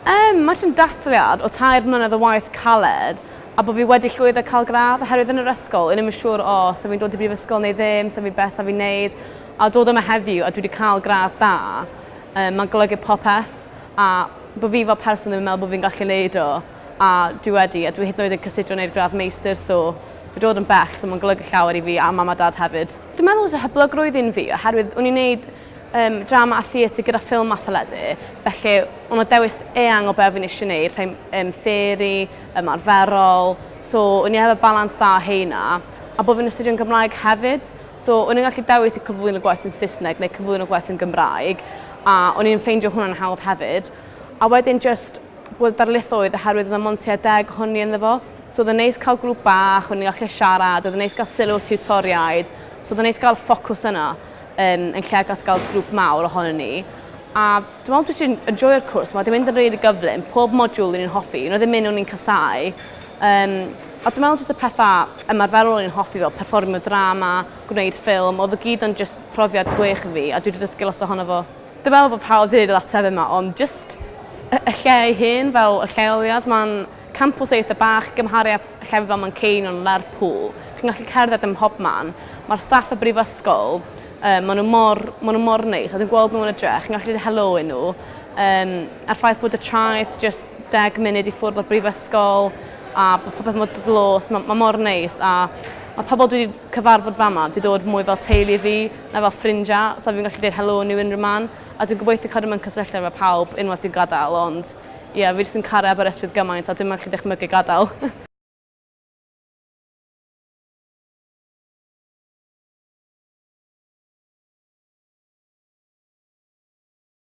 Yym, mae ti'n dathliad o tair mlynedd o waith caled a bod fi wedi llwyddo cael gradd oherwydd yn yr ysgol o'n i'm yn siŵr o sa fi'n dod i brifysgol neu ddim, sa fi beth sa fi'n neud a dod yma heddiw a dwi wedi cael gradd da um, mae'n golygu popeth a bod fi fel person ddim yn meddwl bod fi'n gallu neud o. a dwi wedi a dwi hyd yn oed yn cysidro neud gradd meistr so fi dod yn bell so ma'n golygu llawer i fi a mam a dad hefyd. Dwi'n meddwl fysa hyblygrwydd un fi oherwydd o'n i'n neud yym drama a theatr gyda ffilm a theledu felly o' 'na dewis eang o be' o' fi'n isie neud rhei m- yym theori, ymarferol so o'n i efo balans dda o rheina a bo' fi'n astudio'n Gymraeg hefyd so o'n i'n gallu dewis i cyflwyno gwaith yn Saesneg neu cyflwyno gwaith yn Gymraeg a o'n i'n ffeindio hwnna'n hawdd hefyd a wedyn jyst bod y darlithoedd oherwydd oedd yna mond tua deg ohon ni ynddo fo so oedd e'n neis cael grŵp bach o'n ni'n gallu siarad oedd yn neis gael sylw tiwtoriaid so oedd e'n neis gael ffocws yna um, yn lle gael gael grŵp mawr ohonon ni a dwi'n meddwl dwi sy'n enjoyo'r cwrs mae wedi mynd yn rili gyflym pob modiwl o'n i'n hoffi un oedd ddim un o'n i'n casau um, a dwi'n meddwl jyst y pethau ymarferol o'n i'n hoffi fel perfformio drama gwneud ffilm oedd y gyd o'n jyst profiad gwych i fi a dwi wedi dysgu lot ohono fo Dwi me'wl bo' pawb 'di neud yr ateb yma ond jyst y y lle ei hun fel y lleoliad ma'n campws eitha bach gymharu â llefydd fel Manceinion, Lerpwl. Chi'n gallu cerdded ym mhobman. Ma'r staff y brifysgol yy ma' n'w mor ma' n'w mor neis a dwi'n gweld n'w yn y dre' chi'n gallu deu' helo i n'w. Yym a'r ffaith bod y traeth jyst deg munud i ffwrdd o'r brifysgol a bo' popeth mor d- dlws ma' ma' mor neis a ma' pobol dwi 'di cyfarfod fama 'di dod mwy fel teulu i fi. Na fel ffrindiau, sa fi'n gallu deud helo nhw unrhyw man, a dwi'n gobeithio cadw mewn cysylltiad efo pawb unwaith dwi'n gadael, ond ie, fi jyst yn caru Aberystwyth gymaint a dwi'm yn gallu dychmygu gadael.